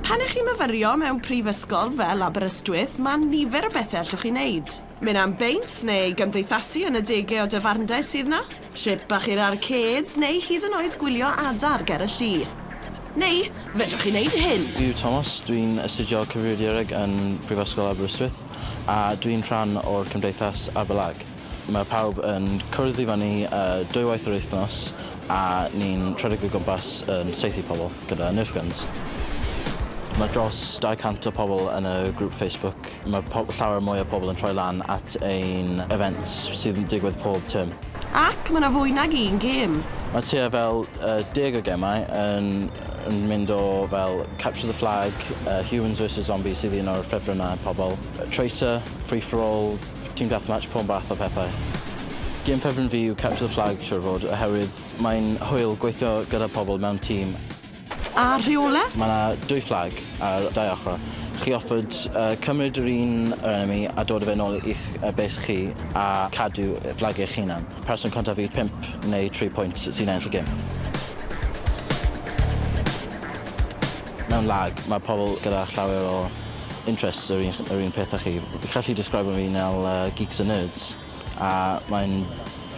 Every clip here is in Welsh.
Pan ych chi'n myfyrio mewn prifysgol fel Aberystwyth, mae nifer o bethau allwch chi wneud. Mynd am beint neu gymdeithasu yn y degau o dafarndai sydd 'na, trip bach i'r arcêds neu hyd yn oed gwylio adar ger y lli. Neu, fedrwch chi wneud hyn! Dwi yw Tomos, dwi'n astudio Cyfrifiadureg yn Prifysgol Aberystwyth a dwi'n rhan o'r Cymdeithas Aberlag. Mae pawb yn cwrdd i fyny dwywaith yr wythnos a ni'n rhedeg o gwmpas yn saethu pobl gyda Nerf Guns. Mae dros 200 o pobl yn y grŵp Facebook. Mae llawer mwy o pobl yn troi lan at ein events sydd yn digwydd pob tyrm. Ac mae yna fwy nag un gêm! Mae tua fel deg o gemau yn mynd o fel Capture the Flag, Humans vs Zombies sydd un o'r ffefrynnau pobl, Traitor, Free for All, Team Deathmatch, pob math o pethau. Gêm ffefryn fi yw Capture the Flag siwr o fod oherwydd mae'n hwyl gweithio gyda pobl mewn tîm. A rheole? Mae 'na dwy fflag ar dau ochr. Chi offered cymryd yr un yr enemy a dod â fe nôl i'ch base chi a cadw fflag eich hunan. Person cyntaf i'r pump neu tri pwynt sy'n ennill y gêm. Mewn lag, mae pobl gyda llawer o interests yr un yr un peth â chi. Fi'n gallu describio fi fel yy geeks and nerds a mae'n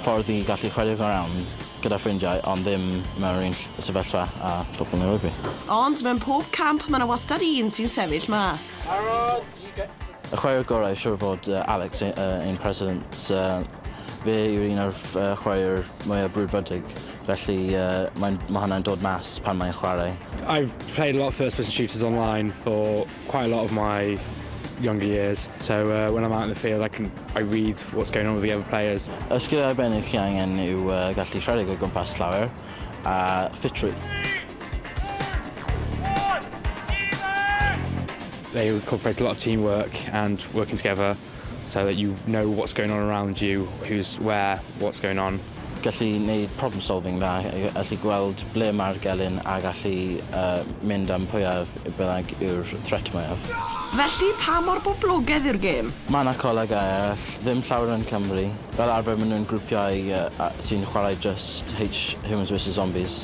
ffordd i gallu chwarae go iawn gyda ffrindiau ond ddim mewn yr un ll- sefyllfa â phobl yn y rygbi. Ond mewn pob camp mae 'na wastad un sy'n sefyll mas. Y chwaraewr gorau siŵr o fod yy Alex yy ein president yy fe yw'r un o'r ff- yy chwaraewr mwya' brwdfrydig Felly mae'n... mae hwnna'n dod mas pan mae'n chwarae. I've played a lot of first person shooters online for quite a lot of my younger years, so uh, when I'm out in the field I can I read what's going on with the other players. Y sgiliau arbennig chi angen yw uh, gallu rhedeg o gwmpas llawer a ffitrwydd. They incorporate a lot of teamwork and working together. So that you know what's going on around you, who's where, what's going on. Gallu neud problem solving dda, gallu gweld ble mae'r gelyn a gallu uh, mynd am pwyaf bynnag yw'r threat mwyaf. Felly, pa mor boblogaidd yw'r gêm? Mae yna colegau eraill, ddim llawer yn Cymru. Fel arfer maen nhw'n grwpiau uh, sy'n chwarae just H Humans vs Zombies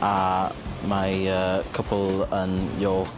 a mae uh, cwpl yn York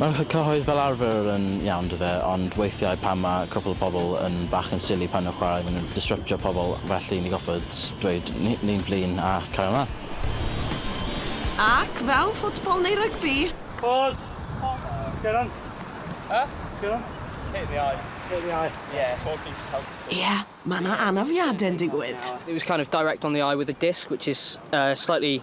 Mae'r cyhoedd fel arfer yn iawn do fe, ond weithiau pan mae cwpl o pobl yn bach yn silly pan nhw'n chwarae maen nhw'n disryptio pobl felly ni goffod dweud ni'n flin a cario mlaen. Ac fel ffwtbol neu rygbi. Pause. Sgero on. Huh? Sgero on. Hit in the eye. Hit in the eye. Yeah. Talking to health and Ie, mae 'na anafiadau'n digwydd. It was kind of direct on the eye with a disc which is slightly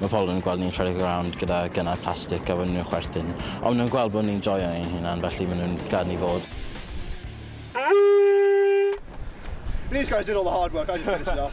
Mae pobl yn gweld ni'n rhedeg around gyda gynnau plastig a wedyn nhw'n chwerthin. Ond maen nhw'n gweld bod ni'n joio ein hunan felly maen nhw'n gad ni fod. These guys did all the hard work, I just finished it off.